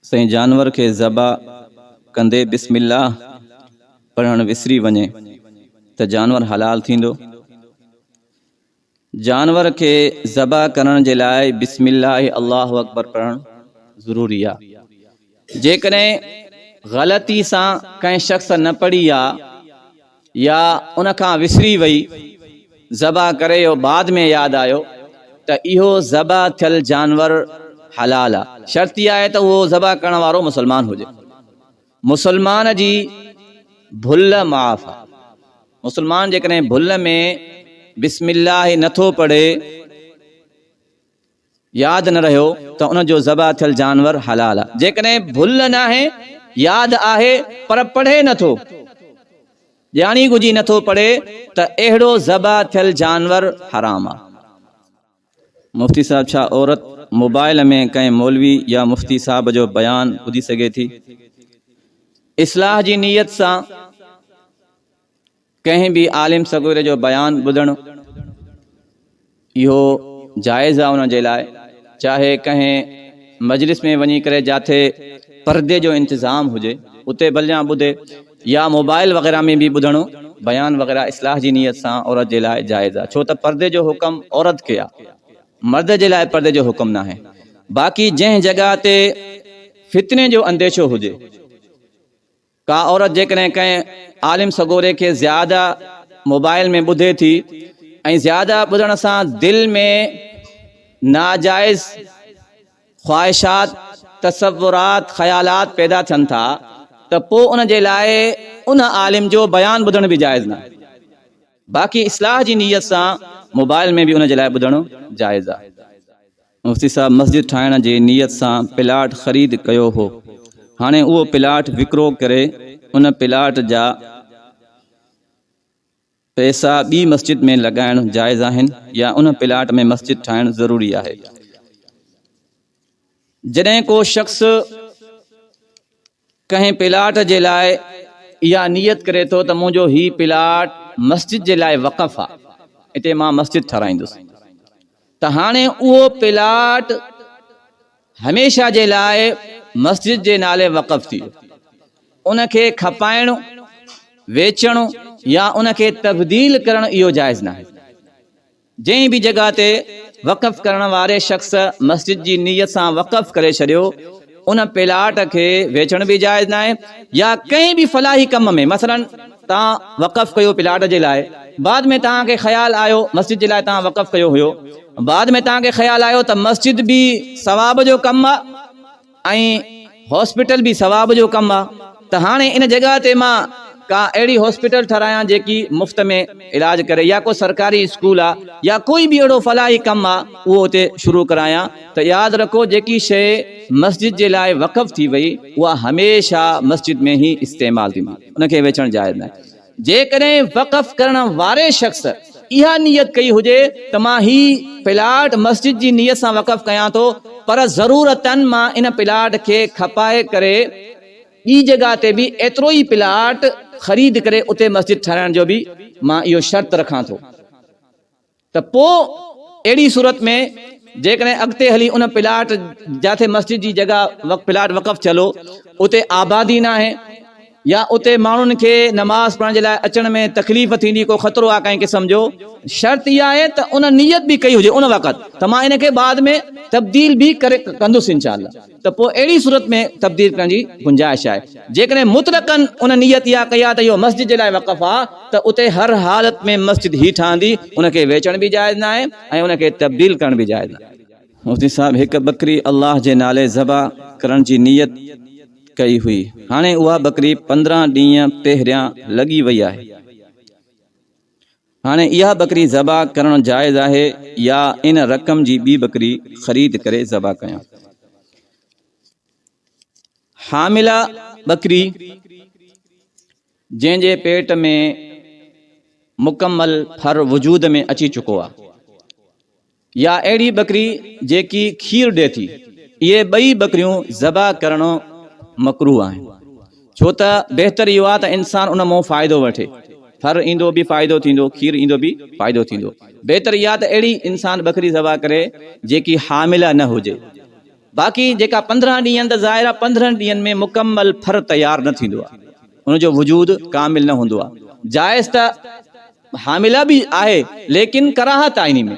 سائين جانور کي ذبح ڪندي بسم الله پڙهڻ وسري وڃي ته جانور حلال ٿيندو؟ جانور کي ذبح ڪرڻ جي لاء بسم الله الله اڪبر پڙهڻ ضروري آ جيڪڏهن غلطي سان ڪنهن شخص نه پڙهي آ يا ان کان وسري وئي ذبح ڪري يو بعد ۾ ياد آيو ته اهو ذبح ٿيل جانور حلال آ شرط اها آهي ته اهو ذبح ڪرڻ وارو مسلمان هجي مسلمان جي ڀل معاف آ مسلمان جيڪڏهن ڀل ۾ بسم الله نه ٿو پڙهي ياد نه رهيو ته ان جو ذبح ٿيل جانور حلال آهي. جيڪڏهن ڀل ناهي، ياد آهي پر پڙهي نه ٿو، ڄاڻي ڳجهي نه ٿو پڙهي ته اهڙو ذبح ٿيل جانور حرام آهي. مفتي صاحب ڇا عورت موبائل ۾ ڪنهن مولوي يا مفتي صاحب جو بيان ٻڌي سگهي ٿي اصلاح جي نيت سان؟ ڪنهن به عالم صغير جو بيان ٻڌڻ اهو جائز آهي ان جي لاء چاهي ڪنهن مجلس ۾ وڃي ڪري جاٿي پردي جو انتظام هجي اتي ڀليان ٻڌي يا موبائل وغيره ۾ به ٻڌڻ بيان وغيره اصلاح جي نيت سان عورت جي لاء جائز آهي ڇو ته پردي جو حڪم عورت کي آهي مرد جي لاء پردي جو حڪم ناهي باقي جنهن جڳهه تي فتني جو انديشو هجي ڪا عورت جيڪڏهن ڪنهن عالم سڳوري کي زياده موبائل ۾ ٻڌي ٿي ۽ زياده ٻڌڻ سان دل ۾ ناجائز خواهشات، تصورات، خيالات پيدا ٿين ٿا ته پوء ان جي لاء ان عالم جو بيان ٻڌڻ به جائز ناهي. باقي اصلاح جي نيت سان موبائل ۾ به ان جي لاء ٻڌڻ جائز آهي. مفتي صاحب مسجد ٺاهڻ جي نيت سان پلاٽ خريد ڪيو هو هاڻي اهو پلاٽ وڪرو ڪري ان پلاٽ جا پئسا ٻي مسجد ۾ لڳائڻ جائز آهن يا ان پلاٽ ۾ مسجد ٺاهڻ ضروري آهي جڏهن ڪو شخص ڪنهن پلاٽ جي لاء اها نيت ڪري ٿو ته منهنجو هي پلاٽ مسجد جي لاء وقف آ اتي مان مسجد ٺهرائيندس ته هاڻي اهو پلاٽ هميشه جي لاء مسجد جي نالي وقف ٿي ويو ان کي کپائڻ ويچڻ يا ان کي تبديل ڪرڻ اهو جائز ناهي. جنهن به جڳهه تي وقف ڪرڻ واري شخص مسجد جي نيت سان وقف ڪري ڇڏيو، ان پلاٽ کي ويچڻ به جائز ناهي يا ڪنهن به فلاحي ڪم ۾ مثلاً توهان وقف ڪيو پلاٽ جي لاء، بعد ۾ توهان کي خيال آيو مسجد جي لاء توهان وقف ڪيو هيو، بعد ۾ توهان کي خيال آيو ته مسجد به ثواب جو ڪم آ، ۽ هاسپيٽل به ثواب جو ڪم آ ته هاڻي ان جڳهه تي مان ڪا اهڙي هاسپيٽل ٺهرايان جيڪي مفت ۾ علاج ڪري يا ڪو سرڪاري اسڪول آ يا ڪوئي به اهڙو فلاحي ڪم آ اهو اتي شروع ڪرايان ته ياد رکو جيڪي شيء مسجد جي لاء وقف ٿي وئي اها هميشه مسجد ۾ هي استعمال ٿيندي ان کي ويچڻ جائز ناهي. جيڪڏهن وقف ڪرڻ واري شخص اها نيت ڪئي هجي ته مان هي پلاٽ مسجد جي نيت سان وقف ڪيان ٿو پر ضرورتاً مان ان پلاٽ کي کپائي ڪري ٻي جڳهه تي به ايترو ئي پلاٽ خريد ڪري اتي مسجد ٺهرائڻ جو به مان اهو شرط رکان ٿو. ته پوء اهڙي صورت ۾ جيڪڏهن اڳتي هلي ان پلاٽ جاٿي مسجد جي جڳهه پلاٽ وقف ٿيل هو اتي آبادي ناهي يا اتي ماڻهن کي نماز پڙهڻ جي لاء اچڻ ۾ تڪليف ٿيندي ڪو خطرو آهي ڪنهن قسم جو شرط اها آهي ته ان نيت به ڪئي هجي ان وقت ته مان ان کي بعد ۾ تبديل به ڪري ڪندس انشاءالله. ته پوء اهڙي صورت ۾ تبديل ڪرڻ جي گنجائش آهي. جيڪڏهن مطلقاً ان نيت اها ڪئي آهي ته اهو مسجد جي لاء وقف آهي ته اتي هر حالت ۾ مسجد هي ٺهندي، ان کي ويچڻ به جائز ناهي ۽ ان کي تبديل ڪرڻ به جائز ناهي. مفتي صاحب هڪ ٻڪري الله جي نالي ذبح ڪرڻ جي نيت ڪئي هئي، هاڻي اها ٻڪري پندرهن ڏينهن پهريان لڳي وئي آهي. هاڻي اها ٻڪري ذبح ڪرڻ جائز آهي يا ان رقم جي ٻي ٻڪري خريد ڪري ذبح ڪيان؟ حامله ٻڪري جنهن جي پيٽ ۾ مڪمل ڦر وجود ۾ اچي چڪو آهي يا اهڙي ٻڪري جيڪي کير ڏئي ٿي، اهي ٻئي ٻڪريون ذبح ڪرڻ مڪروهه آهن، ڇو ته بهتر اهو آهي ته انسان ان مئن فائدو وٺي، ڦر ايندو به فائدو ٿيندو، کير ايندو به فائدو ٿيندو، بهتر اها ته اهڙي انسان ٻڪري ذبح ڪري جيڪي حامله نه هجي، باقي جيڪا پندرهن ڏينهن ته ظاهر آهي پندرهن ڏينهن ۾ مڪمل ڦر تيار نه ٿيندو آهي، ان جو وجود ڪامل نه هوندو آهي، جائز ته. حامله به آهي ليڪن ڪراهت آهي انهي ۾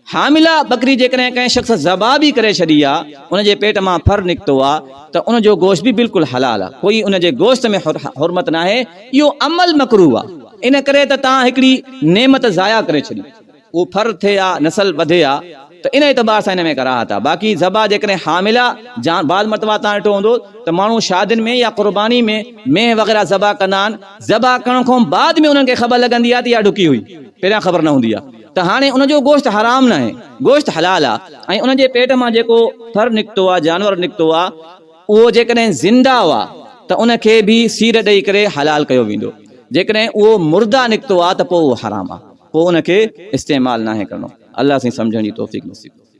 حامله ٻڪري جيڪڏهن ڪنهن شخص ذبح به ڪري ڇڏي آ ان جي پيٽ مان ڦر نڪتو آ ته ان جو گوشت به بلڪل حلال آ ڪوئي ان جي گوشت ۾ حرمت ناهي اهو عمل مڪروه آ ان ڪري ته تان هڪڙي نعمت ضايع ڪري ڇڏي. اهو ڦر ٿئي ها، نسل وڌي ها ته ان اعتبار سان ان ۾ ڪراهت آهي. باقي ذبح جيڪڏهن حامله جان بعض مرتبا توهان ڏٺو هوندو ته ماڻهو شادين ۾ يا قرباني ۾ مينهن وغيره ذبح ڪندا آهن، ذبح ڪرڻ کان بعد ۾ انهن کي خبر لڳندي آهي ته اها ڊڪي هئي، پهريان خبر نه هوندي آهي ته هاڻي ان جو گوشت حرام ناهي، گوشت حلال آهي ۽ ان جي پيٽ مان جيڪو ڦر نڪتو آهي، جانور نڪتو آهي، اهو جيڪڏهن زنده آهي ته ان کي به سير ڏئي ڪري حلال ڪيو ويندو، جيڪڏهن اهو مرده نڪتو آهي ته پوء اهو حرام آهي. پوء ان کي استعمال ناهي ڪرڻو الله سائين سمجهڻ جي توفيق نصيب ڪري.